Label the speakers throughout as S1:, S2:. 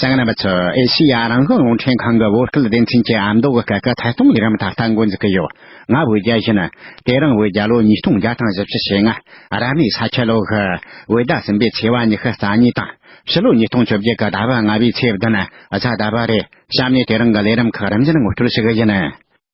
S1: རྒྱ་ནག་རྣམ་པ་ཚོས་ཨེ་ཤེ་ཡ་རང་བྱུང་རླུང་འཕྲིན་ཁང་གི་བོད་སྐད་སྡེ་ཚན་གྱི་ཨ་མདོ་གི་སྐད་ཀྱི་ཐད་གཏོང་ལས་རིམ་ད་ལྟ་འགོ་འཛུགས་ཀྱི་ཡོད། ང་བོད་རྒྱ་གཞི་ནི། དེ་རིང་བོད་རྒྱ་ལོ་ཉིས་སྟོང་བརྒྱ་དང་བཞི་བཅུ་ཞེ་ལྔ། རབ་གནས་ས་ཁྱི་ལོ་ཧི། བོད་ཟླ་གསུམ་པའི་ཚེས་བ་ཉི་ཤུ་རྩ་གཉིས་དང། ཕྱི་ལོ་ཉིས་སྟོང་བཅོ་བརྒྱད་ཀྱི་ཟླ་བ་ལྔ་པའི་ཚེས་བདུན། གཟའ་ཟླ་པ་རེད། གཤམ་ནས་དེ་རིང་གི་ལས་རིམ་ཁག་རིམ་བཞིན་མགོ་སྐྱོར་ཞིག་ཡིན།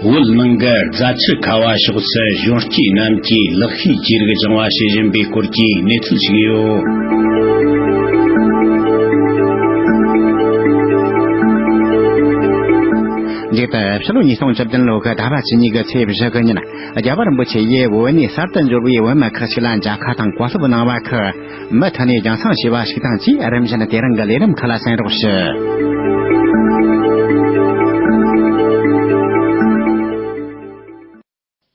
S1: བོད་ནང་གི་རྫ་ཆུ་ཁ་བ་
S2: ཕྱོགས་སུ་གཞོན་སྐྱེས་རྣམས་ཀྱིས་ལག་ཤེས་ཅི་རིགས་སྦྱང་བ་བྱེད་བཞིན་པའི་སྐོར་གྱི་གནས་ཚུལ་ཞིག་ཡོད།
S1: འདས་པའི་ཕྱི་ལོ་ཉིས་སྟོང་བཅུ་བདུན་ལོའི་ཟླ་བ་བཅུ་གཉིས་ཀྱི་ཚེས་བཞི་གཉིས་ན་རྒྱལ་བ་རིན་པོ་ཆེ་ཡིས་བོད་ནས་གསར་དུ་འབྱོར་བའི་བོད་མི་ཁག་ཅིག་ལ་མཇལ་ཁ་དང་གོ་སློབ་གནང་བ་ཁག་མི་མཐུན་ནས་རྒྱང་སྲང་བྱས་པ་ཞིག་དང་བཅས་རིམ་བཞིན་དེ་རང་གི་ལས་རིམ་ཁག་ལ་གསན་རོགས་ཞུ།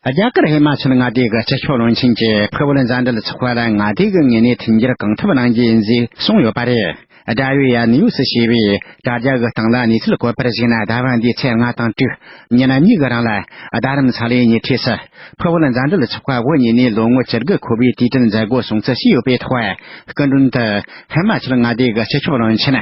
S1: རྒྱ་གར་ཧི་མ་ཅལ་མངའ་སྡེ་གི་སྤྱི་ཁྱབ་བློན་ཆེན་གྱིས་ཕུ་བོ་ལ་མཛའ་འབྲེལ་ཚོགས་པ་ལ་མངའ་སྡེ་གི་ངོས་ནས་མཐུན་འགྱུར་གང་ཐུབ་གནང་རྒྱུ་ཡིན་ཞེས་གསུངས་ཡོད་པ་རེད། དགྲ་བོའི་ཡ་ནི་ཡོས་ཞེས་པའི་དྲ་རྒྱ་གི་སྟེང་ལ་གནས་ཚུལ་བཀོད་པར་གཞིགས་ན་ཟླ་བ་འདིའི་ཚེས་ལྔ་དང་དྲུག་ཉིན་གཉིས་ཀྱི་རིང་ལ་རྡ་རམ་ས་ལའི་ཉེ་འཁྲིས་སུ་ཕུ་བོ་ལ་མཛའ་འབྲེལ་ཚོགས་པ་བོད་གཉིས་ནས་ལོ་ངོ་བཅུ་དགུ་འཁོར་བའི་དུས་དྲན་མཛད་སྒོ་སྲུང་བརྩི་བྱས་ཡོད་པའི་ཐོག་སྐུ་མགྲོན་དུ་ཧི་མ་ཅལ་མངའ་སྡེ་གི་སྤྱི་ཁྱབ་བློན་ཆེན་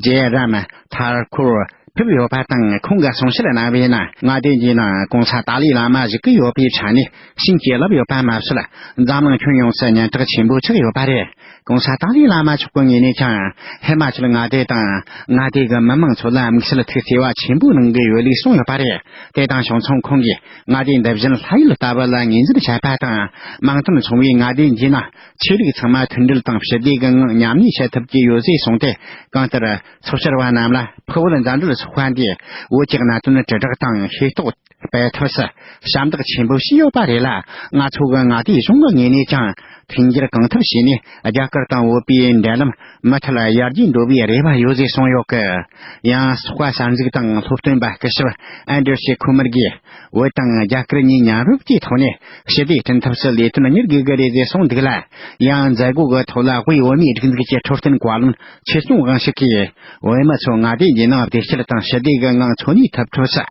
S1: ཇེ་རམ་ཐཱར་ཁུར། ཐུབ་ཡོད་པ་དང་ཁོང་གི་གསུང་བཤད་གནང་བའི་ནང་ང་བདེན་རྒྱའི་ནང་གང་ས་ཏཱ་ལའི་བླ་མ་བཞུགས་ཀྱི་ཡོད་པའི་ཆ་ནས་ཤིན་གྱིས་ལབ་ཡོད་པ་མ་ཟད་འཛམ་གླིང་ཁྱོན་ཡོངས་སུ་སྙན་གྲགས་ཆེན་པོ་ཆགས་ཡོད་པ་རེད་གང་ས་ཏཱ་ལའི་བླ་མ་མཆོག་གི་ངོས་ནས་ཀྱང་ཧི་མ་ཅལ་མངའ་སྡེ་དང་མངའ་སྡེ་གི་མི་དམངས་ཚོ་ལ་དམིགས་བསལ་ཐུགས་བརྩེ་བ་ཆེན་པོ་གནང་གི་ཡོད་ལུགས་གསུངས་ཡོད་པ་རེད་དེ་དང་ཕྱོགས་མཚུངས་ཁོང་གིས་མངའ་སྡེ་འདི་བཞིན་ལྷ་ཡུལ་ལྟ་བུ་ལ་ངོས་འཛིན་བྱས་པ་དང་དམངས་དོན་ཚོང་བའི་མངའ་སྡེ་འདིའི་ནང་ཆོས་ལུགས་ཚང་མ་མཐུན་སྒྲིལ་དང་ཞི་བདེའི་སྒང་མཉམ་གནས་བྱེད་ཐུབ་ཀྱི་ཡོད་ཟེར་གསུངས་ཏེ་གང་ལྟར་ཚོགས་བཅར་བ་རྣམས་ལ་ཕུ་བོ་ལ་མཛའ་འབྲེལ་སོགས་དཔལ་འབྱོར་བོད་ཀྱི་གནད་དོན་དྲིལ་བསྒྲགས་དང་ཤེས་རྟོགས་སྤེལ་ཐུབ་སར་ཞབས་འདེགས་ཆེན་པོ་བྱས་ཡོད་པ་རེད་ལ་ང་ཚོ་གི་མངའ་སྡེའི་གཞུང་གི་ངོས་ནས་ཀྱང་མཐུན་འགྱུར་གང་ཐུབ་བྱས་ནས་རྒྱ་གར་དང་བོད་པའི་འབྲེལ་ལམ་མུ་མཐུད་ཡར་རྒྱས་འགྲོ་བའི་རེ་བ་ཡོད་ཅེས་གསུངས་ཡོད་སྐད། ཡང་སོག་པ་གསར་འཛུགས་དང་སློབ་སྟོན་པ་སྐུ་ཞབས་ཨན་འདྲེ་ཤེ་ཁུ་མར་གྱིས་བོད་དང་རྒྱ་གར་གཉིས་མཉམ་རུབ་ཀྱི་ཐོག་ནས་ཞི་བདེ་བསྐྲུན་ཐབས་སུ་ལས་དོན་གཉེར་དགོས་ཀྱི་རེད་ཅེས་གསུངས་འདུག་ལ། ཡང་མཛད་སྒོ་གི་ཐོག་ལ་དབུས་བོད་མིའི་སྒྲིག་འཛུགས་ཀྱི་འཕྲོད་བསྟེན་བཀའ་བློན་ཕྱིར་གཏོང་དབང་ཤུགས་ཀྱིས་བོད་མི་ཚོ་མངའ་སྡེ་འདིའི་ནང་བདེ་སྐྱིད་དང་ཞི་བདེ་གི་ངང་འཚོ་གནས་ཐུབ་ཐུབ་སུ།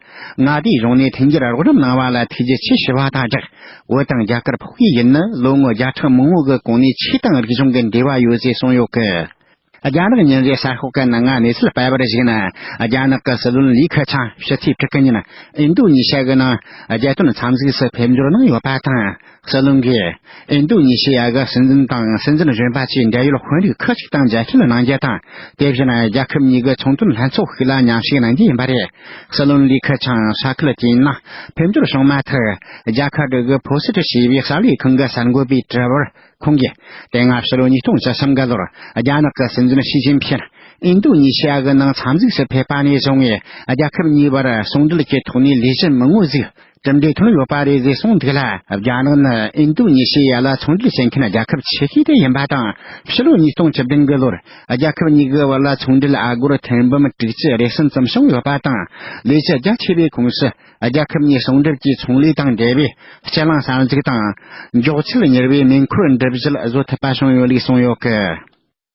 S1: མངའ་སྡེའི་གཞུང་ནས་འཐེན་འཁྱེར་རོགས་རམ་གནང་བ་ལ་ཐུགས་རྗེ་ཆེ་ཞུ་བ་དང་སྦྲགས། བོད་དང་རྒྱ་གར་ཕོགས་པའི་ཡུལ་ནི་ལོ་ངོ་བརྒྱ་ཕྲག་མང་བོ་གི་གོང་ནས་ཆོས་དང་རིག་གཞུང་གི་འབྲེལ་བ་ཡོད་ཅེས་གསུངས་ཡོད་སྐད། རྒྱ་ནག་ཉིན་རེའི་གསར་ཤོག་གི་ནང་ང་གནས་ཚུལ་སྤེལ་བར་གཞིགས་ན། རྒྱ་ནག་གི་སྲིད་བློན་ལི་ཁེ་ཆང་ཕྱི་ཚེས་དྲུག་གི་ཉིན་ཨིན་རྡུ་ཉི་ཞི་གི་ནང་རྒྱལ་དོན་འཚམས་གཟིགས་སུ་ཕེབས་འབྱོར་གནང་ཡོད་པ་དང། ཟི་ལིང་གིས་ཨིན་དུ་ནི་ཞི་ཡ་གི་སྲིད་འཛིན་དང་སྲིད་འཛིན་གཞོན་པ་བཅས་འབྲེལ་ཡོད་དཔོན་རིགས་ཁག་ཅིག་དང་མཇལ་འཕྲད་གནང་རྒྱུ་དང་དེ་བཞིན་རྒྱལ་ཁབ་གཉིས་ཀའི་ཚོང་དོན་ལྷན་ཚོགས་ཤིག་ལ་མཉམ་ཞུགས་གནང་རྒྱུ་ཡིན་པ་རེད། སྲིད་བློན་ལི་ཁི་ཆང་ས་ཁུལ་དེའི་ནང་ཕེབས་འབྱོར་བྱུང་མ་ཐག་རྒྱ་གར་གྲུ་གུ་བྷོ་སི་ཀྲི་ཞེས་པའི་གསར་ལས་ཁང་གི་གསར་འགོད་པས་དྲི་བར་ཁོང་གིས་དེ་སྔ་ཕྱི་ལོ་ཉིས་སྟོང་བཅུ་གསུམ་གི་ལོར་རྒྱ་ནག་གི་སྲིད་འཛིན་ཞི་ཅིན་ཕིན་ཨིན་དུ་ནི་ཞི་ཡ་གི་ནང་འཚམས་གཟིགས་སུ་ཕེབས་པ་ནས་བཟུང་རྒྱལ་ཁབ་གཉིས་བར་ཟུང་འབྲེལ་གྱི་ཐོག་ནས་ལས་གཞི་མི་ངོ་གཟིགས་གྲུབ་འབྲས་ཐོན་ཡོད་པ་རེད་ཟེར་གསུངས་འདུག་ལ་རྒྱ་ནག་ནི་ཨིན་དུ་ཉི་ཞི་ཡ་ལ་ཚོང་འབྲེལ་བྱེད་མཁན་རྒྱལ་ཁབ་ཆེ་ཤོས་དེ་ཡིན་པ་དང་ཕྱི་ལོ་ཉིས་སྟོང་བཅུ་བདུན་གྱི་ལོར་རྒྱལ་ཁབ་གཉིས་ཀྱི་བར་ལ་ཚོང་འབྲེལ་ཨ་སྒོར་ཐེར་འབུམ་དྲུག་ཅུ་རེ་གསུམ་ཙམ་བྱུང་ཡོད་པ་དང་ལས་བྱེད་རྒྱ་ཆེ་བའི་ཁོངས་སུ་རྒྱལ་ཁབ་གཉིས་ཟུང་འབྲེལ་གྱིས་ཚོང་ལས་དང་འབྲེལ་བའི་སྤྱི་གླིང་གསར་འཛུགས་དང། མགྱོགས་ཚད་གཉེར་བའི་མེ་འཁོར་འགྲུབ་གཞིར་བཟོ་ཐུབ་པ་བྱུང་ཡོད་ལུགས་གསུངས་ཡོད་སྐད།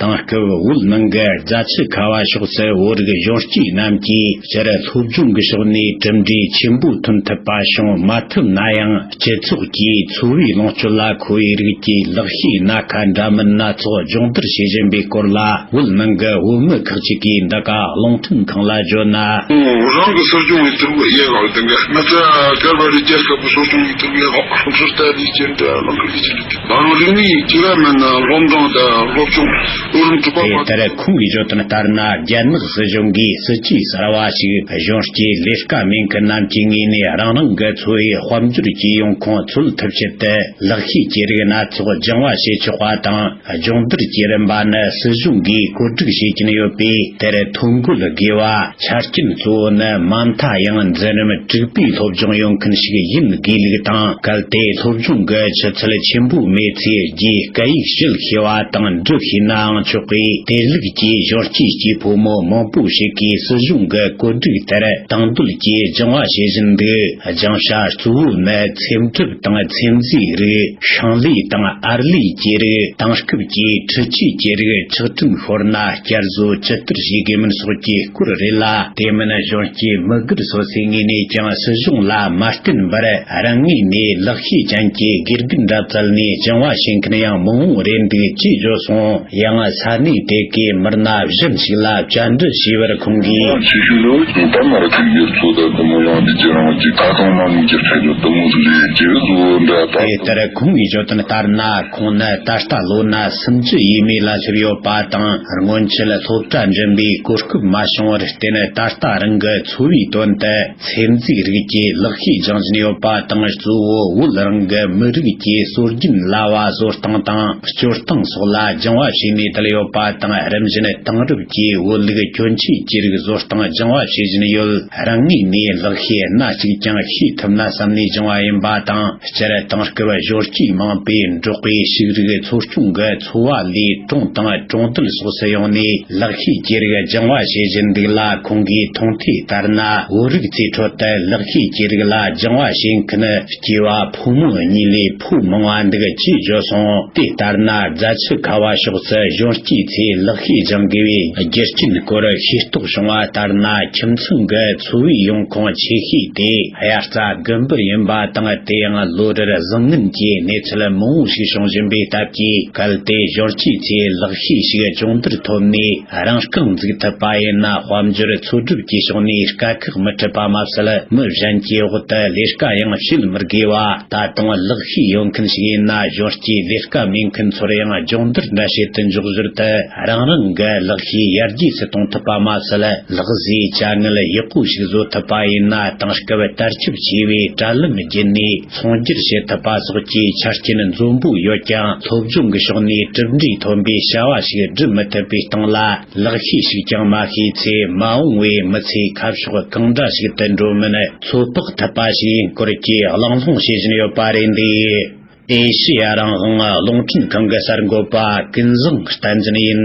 S1: དེང་སྐབས་དབུས་གླིང་གི་རྫ་ཆུ་ཁ་བ་ཕྱོགས་སུ་བོད་རིགས་གཞོན་སྐྱེས་རྣམས་ཀྱིས་སྤྱིར་
S2: སློབ་སྦྱོང་གི་ཕྱོགས་ནས་གྲུབ་འབྲས་ཆེན་པོ་ཐོན་ཐུབ་པ་བྱུང་མ་ཐུབ་ན་ཡང་སྤྱི་ཚོགས་ཀྱིས་འཚོ་བའི་ལོངས་སྤྱོད་ལ་མཁོ་བའི་རིགས་ཀྱི་ལག་ཤེས་སྣ་ཁ་འདྲ་མིན་སྣ་ཚོགས་སྦྱོང་བརྡར་བྱེད་བཞིན་པའི་སྐོར་ལ་དབུས་གླིང་གི་བོད་མི་ཁག་ཅིག་གིས་འདི་ག་
S3: རླུང་འཕྲིན་ཁང་ལ་བརྗོད་ན། རང་གི་གསོ་སྦྱོང་གི་ཐུགས་ཡེ་ཤེས་ལ་བརྟེན་པའི་མི་ཚེ་ག་པར་རི་རྒྱལ་ལྟ་བུ་གསོ་སྦྱོང་གི་ཐུགས་ཡེ་ཤེས་ལ་ལྷུན་གྲུབ་ལྟ་བུའི་སྤྱན་འདྲེན་བླ་མཁར་གྱི་སྤྱི་ལེ། རང་རིགས་མི་ཡིས་ཅི་ར་མེད་ན་སློབ་འབྲིང་དང་སློབ་ཆུང་སྐུ་རིམ་དྲུག་པ་དེ་བར་ལྟར་དུ། ཁོང་གིས་བརྗོད་དོན་ལྟར་ན་རྒྱ་ནག་སྲིད་གཞུང་གིས་སྲིད་ཇུས་གསར་བ་ཞིག་གཞུང་སྤྱིའི་ལས་ཀ་མེད་མཁན་རྣམས་ཀྱི་ངོས་ནས་རང་རང་གི་འཚོ་བའི་དཔལ་འབྱོར་སྤྱི་ཡོངས་ཁོང་འཚོལ་ཐུབ་ཆེད་དུ་ལག་ཤེས་ཀྱི་རིགས་སྣ་ཚོགས་སྦྱང་བ་བྱེད་ཆོག་པ་དང་སྦྱོང་བརྡར་
S2: གྱི་རིམ་པ་ནི་སྲིད་གཞུང་གིས་བཀོད་སྒྲིག་བྱེད་ཀྱིན་ཡོད་པས་དེར་ཐོ་འགོད་དགོས་པ། ཆ་རྐྱེན་གཙོ་བོ་ནི་མ་མཐའ་ཡང་འཛིན་རིམ་དྲུག་པའི་སློབ་སྦྱོང་ཡོང་མཁན་ཞིག་ཡིན་དགོས་ལུགས་དང་གལ་ཏེ་སློབ་སྦྱོང་གི་ཆུ་ཚད་ཆེན་པོ་མེད་ཚེ་རྒྱའི་སྐད་ཡིག་བཤད་ཤེས་པ་དང་འབྲི་ཤེས་ནའང་ཆོག་པས་དེ་ལུགས་ཀྱི་གཞོན་སྐྱེས་སྐྱེས་ཕོ་མོ་མང་པོ་ཞིག་གིས་སྲིད་གཞུང་གི་བཀོད་སྒྲིག་དེར་དང་དོད་ཀྱིས་སྦྱང་བ་བྱེད་བཞིན་འདུག་སྦྱང་བྱ་གཙོ་བོ་ནི་ཚེམ་སྒྲིབ་དང་ཚེམ་བཟོའི་རིགས་ཤིང་ལས་དང་ཨར་ལས་ཀྱི་རིགས་དེང་སྐབས་ཀྱི་འཕྲུལ་ཆས་ཀྱི་རིགས་ཆག་ཁྲིམས་ཤོར་ན། བསྐྱར་བཟོ་ཇི་ལྟར་བྱེད་དགོས་མིན་སོགས་ཀྱི་སྐོར་རེད་ལ། དེ་མིན་གཞོན་སྐྱེས་
S3: མི་སྒེར་སོ་སོའི་ངོས་ནས་ཀྱང་སྲིད་གཞུང་ལ་མ་བརྟེན་པར་རང་ངོས་ནས་ལག་ཤེས་ཅན་གྱི་དགེ་རྒན་འདྲ་བཙལ་ནས་སྦྱང་བ་བྱེད་མཁན་ཡང་མང་བོ་རེད་འདུག་ཅེས་བརྗོད་སོང། ཡང་ས་གནས་དེ་གའི་མི་སྣ་གཞན་ཞིག་ལ་བཅར་འདྲི་བྱས་པར་ཁོང་གིས། ཆེ་ཤོས་ནི་བོད་ཁྱིམ་ཕ་མ་རུ་ཁག་སྒེར་གཙོ་དང་བུ་མོ་ཡང་སྡེ་བརྒྱད་རང་བཞིན་ད་དུང་མ་ནིང་ཀྱི་ཁྲལ་གྱོད་དུམ་བུ་རེ་རེ་བརྒྱད་བཟོ་འདྲ་དང། དེ་ལྟར་ཁོང་གིས་བརྗོད་དོན་ལྟར་ན། ཁོང་ནི་ད་ལྟ་ལོ་ན་སུམ་བཅུ་ཡས་མས་ལ་སླེབས་ཡོད་པ་དང་སྔོན་ཆད་སློབ་གྲྭ་འགྲིམ་པའི་གོ་སྐབས་མ་བྱུང་བར་བརྟེན་ད་ལྟ་རང་གི་འཚོ་བའི་དོན་དུ་ཚེ་འཛིན་རིགས་ཀྱི་ལག་ཤེས་སྦྱང་བཞིན་ཡོད་པ་དང་གཙོ་བོ་བོད་རང་གི་མི་རིགས་ཀྱི་སྲོལ་རྒྱུན་གླ་བ་བཟོ་སྟངས་དང་སྤྱོད་སྟངས་སོགས་ལ་སྦྱང་བ་བྱས་ནས་དར་ཡོད་པ་དང་རིམ་བཞིན་དེང་རབས་ཀྱི་བོད་ལུགས་གྱོན་ཆས་ཀྱི་རིགས་བཟོ་སྟངས་སྦྱང་བ་བྱེད་བཞིན་ཡོད། རང་ངོས་ནས་ལག་ཤེས་སྣ་གཅིག་
S2: ཀྱང་ཤེས་ཐུབ་ན་བསམ་ནས་བྱུང་བ་ཡིན་པ་དང་སྤྱིར་བཏང་སྐུ་བཞུར་སྐྱེས་མང་པོས་འབྲོག་པའི་ཕྱུགས་རིགས་འཚོ་སྐྱོང་གི་འཚོ་བ་ལས་གྲོང་དང་གྲོང་རྡལ་སོགས་སུ་ཡོང་ནས་ལག་ཤེས་ཀྱི་རིགས་སྦྱང་བ་བྱེད་བཞིན་འདུག་ལ་ཁོང་གིས་མཐོང་ཐོས་ལྟར་ན་བོད་རིགས་ཚོའི་ཁྲོད་དུ་ལག་ཤེས་ཀྱི་རིགས་ལ་སྦྱང་བ་བྱེད་མཁན་སྐྱེས་བ་ཕོ་མོ་གཉིས་ལས། ཕུག་མང་བ་འདུག་ཅེས་བརྗོད་སོང། དེ་ལྟར་ན་རྫ་ཆུ་ཁ་བ་ཕྱོགས་སུ་གཞོན་སྐྱེས་ཚོས་ལག་ཤེས་སྦྱང་དགོས་པའི་རྒྱུ་རྐྱེན་སྐོར་ཤེས་རྟོགས་བྱུང་བ་ལྟར་ན་ཁྱིམ་ཚང་གི་འཚོ་བའི་ཡོང་ཁུངས་ཆེ་ཤོས་དེ་དབྱར་རྩྭ་དགུན་འབུ་ཡིན་པ་དང་དེ་ཡང་ལོ་རེར་བཟང་ངན་གྱི་གནས་ཚུལ་མང་བོ་ཞིག་བྱུང་བཞིན་པའི་སྟབས་ཀྱིས་གལ་ཏེ་གཞོན་སྐྱེས་ཚོས་ལག་ཤེས་ཤིག་སྦྱོང་བརྡར་ཐོབ་ནས། རང་རྐང་འཛུགས་ཐུབ་པ་ཡིན་ན་དཔལ་འབྱོར་འཚོལ་སྒྲུབ་ཀྱི་ཕྱོགས་ནས་དཀའ་ཁག་མི་འཕྲད་པ་མ་ཟད་མི་གཞན་གྱི་འོག་ཏུ་ལས་དཀའ་ཡང་བྱེད་མི་དགོས་པ་ད་དུང་གླགས་ཤེས་ཡོད་མཁན་ཞིག་ཡིན་ན་གཞོན་སྐྱེས་ལས་དཀའ་མེད་མཁན་ཚོར་ཡང་སྦྱོང་བརྡར་འདྲ་བྱེད་དུ་འཇུག་ཟུར་དུ་རང་རང་གི་གླགས་ཤེས་ཡར་རྒྱས་སུ་གཏོང་ཐུབ་པ་མ་ཟད་གླགས་བཟོའི་དཀའ་ངལ་ཡག་པོ་ཞིག་བཟོ་ཐུབ་པ་ཡིན་ན་དེང་སྐབས་དར་ཁྱབ་ཆེ་བའི་དྲ་ལམ་བརྒྱུད་ནས་ཚོང་སྒྱུར་བྱེད་ཐུབ་པ་སོགས་ཀྱི་ཆ་རྐྱེན་འཛོམས་པོ་ཡོད་ཀྱང་ཐོབ་སྦྱོང་གི་ཕྱོགས་ནས་གྲུབ་འབྲས་ཐོན་པའི་བྱ་བ་ཞིག་སྒྲུབ་མི་ཐུབ་
S1: པའི་སྟེང་ལ་ལག་ཤེས་ཤིག་ཀྱང་མ་ཤེས་ཚེ་མ་འོངས་བའི་མི་ཚེ་ཁ་ཕྱོགས་གང་འདྲ་ཞིག་ཏུ་འགྲོ་མིན་ཚོད་དཔག་ཐུབ་པ་ཞིག་ཡིན་སྐོར་གྱི་གླེང་སློང་བྱེད་བཞིན་ཡོད་པ་རེད་འདུག་ཨེ་ཤེ་ཡ་རང་དབང་རླུང་འཕྲིན་ཁང་གི་གསར་འགོད་པ་ཀུན་བཟང་བསྟན་འཛིན་ཡིན།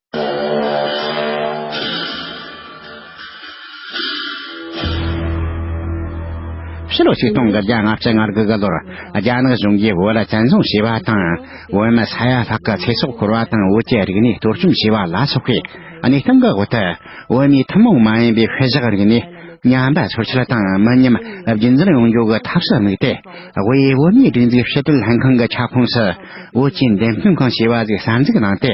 S1: ཕྱི་ལོ་ཆིག་སྟོང་དང་བརྒྱ་ལྔ་བརྒྱ་ང་དགུ་དགུ་ལོར་རྒྱ་ནག་གཞུང་གིས་བོད་ལ་བཙན་བཟུང་བྱས་པ་དང་བོད་མི་ས་ཡ་ལྷག་གི་ཚེ་སྲོག་ཤོར་བ་དང་བོད་ཀྱི་རིག་གནས་གཏོར་བཅོམ་བྱས་པ་ལ་སོགས་པའི་གནས་སྟངས་ཀྱི་འོག་ཏུ་བོད་མིའི་ཐུན་མོང་མ་ཡིན་པའི་ཤུལ་བཞག་རིག་གནས་ཉམས་པ་ཚོར་ཆེད་དང་མི་ཉམས་རྒྱུན་འཛིན་ཡོང་རྒྱུ་གི་ཐབས་སུ་དམིགས་ཏེ་དབུས་བོད་མིའི་སྒྲིག་འཛུགས་ཕྱི་དྲིལ་ལྷན་ཁང་གི་ཁྱབ་ཁོངས་སུ་བོད་ཀྱི་འགྲེམས་སྟོན་ཁང་ཞེས་པ་ཞིག་གསར་འཛུགས་གནང་སྟེ་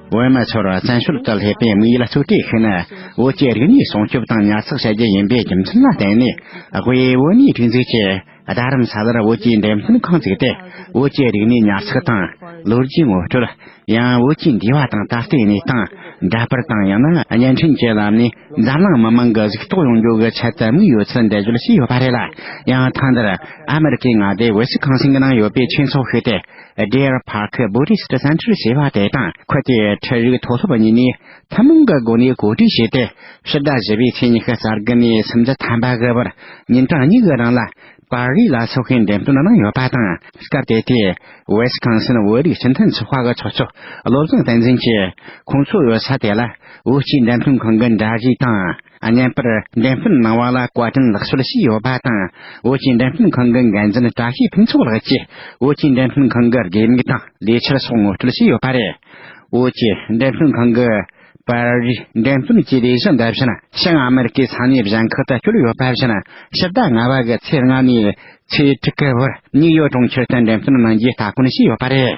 S4: བོད་མི་ཚོར་བཙན་ཤུལ་དུ་སླེབས་
S1: པའི་མིའི་ལ་རྩོད་གྲོས་ཤིག་ནི་བོད་ཀྱི་རིག་གནས་སྲུང་སྐྱོབ་དང་ཉར་ཚགས་བྱ་རྒྱུ་ཡིན་པའི་རྒྱུ་མཚན་ལ་བརྟེན་ནས་དབུས་བོད་མིའི་སྒྲིག་འཛུགས་ཀྱིས་རྡ་རམ་ས་ལར་བོད་ཀྱི་འགྲེམས་སྟོན་ཁང་བཙུགས་ཏེ་བོད་ཀྱི་རིག་གནས་ཉར་ཚགས་དང་ལོ་རྒྱུས་ངོ་སྤྲོད། ཡང་བོད་ཀྱི་འདས་པ་དང་ད་ལྟའི་གནས་སྟངས་འདྲ་པར་དང་ཡང་ན་བརྙན་འཕྲིན་གྱི་ལམ་ནས་འཛམ་གླིང་མི་མང་གི་གཟིགས་རྟོགས་ཡོང་རྒྱུ་གི་ཆེད་དུ་དམིགས་ཡོད་ཚུལ་འགྲེལ་བརྗོད་བྱས་ཡོད་པ་རེད་ལ་ཡང་ཐེངས་འདིར་ཨ་མི་རི་ཀའི་མངའ་སྡེའི་འོད་ཟེར་ཁང་ཞིང་གི་ནང་ཡོད་པའི་ཆོས་ཚོགས་ཤིག་སྟེ Deer Park Buddhist Center ཞེས་པ་དེ་དང་ཁོ་དེའི་འཕྲལ་རིགས་མཐོ་སློབ་གཉིས་ནས་ཐུན་མོང་གི་སྒོ་ནས་གོ་སྒྲིག་བྱས་ཏེ་ཕྱི་ཟླ་བཞི་པའི་ཚེས་ཉི་ཤུ་གསར་འགོད་ནས་སུམ་ཅུ་ཐམ་པ་དགུ་བར་ཉིན་གྲངས་གཉིས་ཀྱི་རིང་ལ་པར་རིས་ལ་ཚོགས་ཤིང་འགྲེམས་སྟོན་གནང་ཡོད་པ་དང་སྐབས་དེ་དུས Wisconsin བོད་རིགས་སྤྱི་མཐུན་ཚོགས་པ་གི་ཚོགས་གཙོ་བློ་བཟང་བསྟན་འཛིན་གྱིས་ཁོང་ཚོའི་ས་དེ་ལ་བོད་སྤྱིའི་འགྲེམས་སྟོན་ཁང་གི་འདྲ་གཞི་དང། བརྙན་པར་འགྲེམས་སྤེལ་གནང་བ་ལ་བཀའ་དྲིན་ལགས་ཞུ་ལ་ཞུས་ཡོད་པ་དང་བོད་ཀྱི་འགྲེམས་སྤེལ་ཁང་གི་འགན་འཛིན་བཀྲ་ཤིས་ཕུན་ཚོགས་ལགས་ཀྱིས་བོད་ཀྱི་འགྲེམས་སྤེལ་ཁང་གི་དགོས་དམིགས་དང་ལས་འཆར་སོགས་ངོ་སྤྲོད་ཞུས་ཡོད་པ་རེད། བོད་ཀྱི་འགྲེམས་སྤེལ་ཁང་གིས་པར་རིས་འགྲེམས་སྤེལ་གྱི་ལས་གཞི་འདི་བཞིན་ཞིང་ཨ་མེ་རི་ཀའི་ས་གནས་གཞན་ཁག་ཏུ་བསྐྱོད་ཡོད་པ་བཞིན་ཕྱི་ཟླ་ལྔ་བ་གི་ཚེས་ལྔ་ནས་ཚེས་དྲུག་གི་བར་ནིག་ཡོག་གྲོང་ཁྱེར་དུ་འགྲེམས་སྤེལ་གནང་རྒྱུའི་སྟ་གོན་ཞུས་ཡོད་པ་རེད།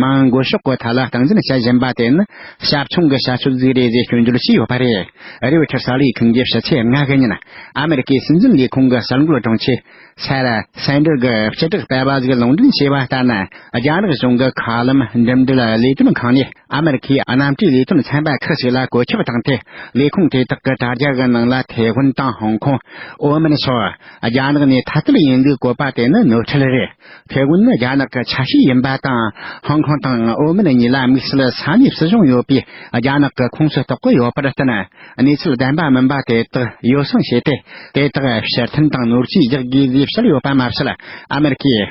S1: མང་སྒོས་ཕྱོགས་གོ་ཐ་ལ་སྟངས་འཛིན་བྱེད་བཞིན་པ་དེ་ནི་ཞབས་ཆུང་གི་བྱ་སྤྱོད་རྫིག་རེད་ཅེས་སྐྱོན་བརྗོད་བྱས་ཡོད་པ་རེད། རེའུ་ཆར་གསར་ལས་ཁང་གིས་ཕྱི་ཚེས་ལྔ་གི་ཉིན་ཨ་མེ་རི་ཀའི་སྲིད་འཛིན་ལས་ཁུངས་ཀྱི་གསར་འགོད་དྲུང་ཆེ། Sarah Sanders། གི་སྤྱི་བསྒྲགས་པས་བ་ཟིག་ལུང་འདྲེན་བྱས་པ་ལྟར་ན། རྒྱ་ནག་གཞུང་གི་མཁའ་ལམ་འགྲིམ་འགྲུལ་ལས་དོན་ཁང་ནས་ཨ་མེ་རི་ཁའི་གནམ་གྲུའི་ལས་དོན་ཚན་པ་ཁག་ཅིག་ལ་བཀོད་ཁྱབ་བཏང་སྟེ་ལས་ཁུངས་དེ་དག་གི་དྲ་རྒྱ་གི་ནང་ལ་ཐའེ་ཧྥེ་གྷོན་ནི་རྒྱ་ནག་གི་ཆ་ཤས་ཡིན་པ་དང་ཧོང་ཀོང་དང་ཨོ་མིན་གཉིས་ལ་དམིགས་བསལ་ས་གནས་སྲིད་གཞུང་ཡོད་པའི་རྒྱ་ནག་གི་ཁོངས་སུ་གཏོགས་ཀྱི་ཡོད་པར་བརྟེན། གནས་ཚུལ་བདེན་པ་མིན་པ་དེ་དག་ཡོ་བསྲང་བྱས་ཏེ་དེ་དག་ཕྱིར་འཐེན་དང་ནོར་གྱིས་རྒྱག་དགོས་ཞེས་བཤད་ཡོད་པ་མ་ཟད་ཨ་མེ་རི་ཁའི།